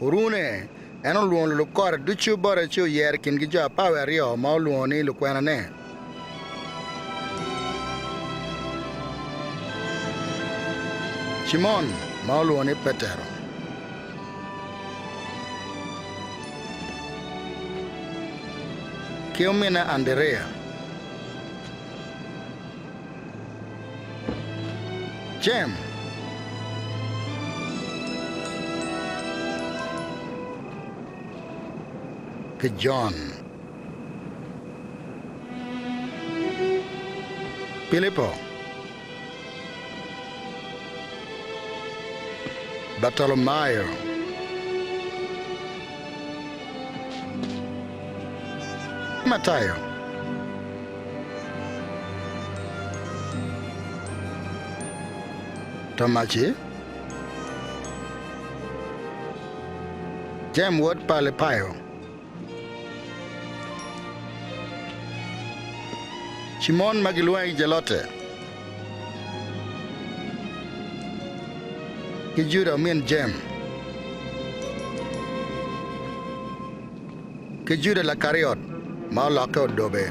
Orune, en olwongo lulub kore ducu bote ci oyero i kingi jo apar wiye aryo ma olwongo ni lukwenane. Cimon ma olwongo ni Petero ki ominne Andiriya, Jem, ki Jon. Pilipo, Bartolomayo, Matayo, Tomaci, Jem wod pa Alipayo, Cimon ma gilwonge ki Jelote, ki Juda omin Jem, ki Juda Lakariot ma olokke odobe.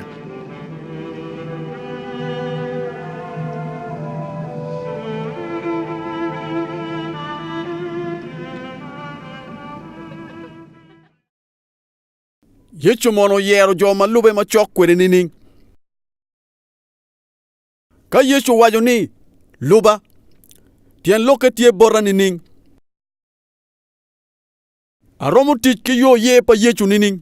Yecu mono oyero jo ma lube macok kwede nining? Ka Yecu owaco ni, Luba, tyen lokke tye bota nining? Aromo tic ki yo ye pa Yecu nining?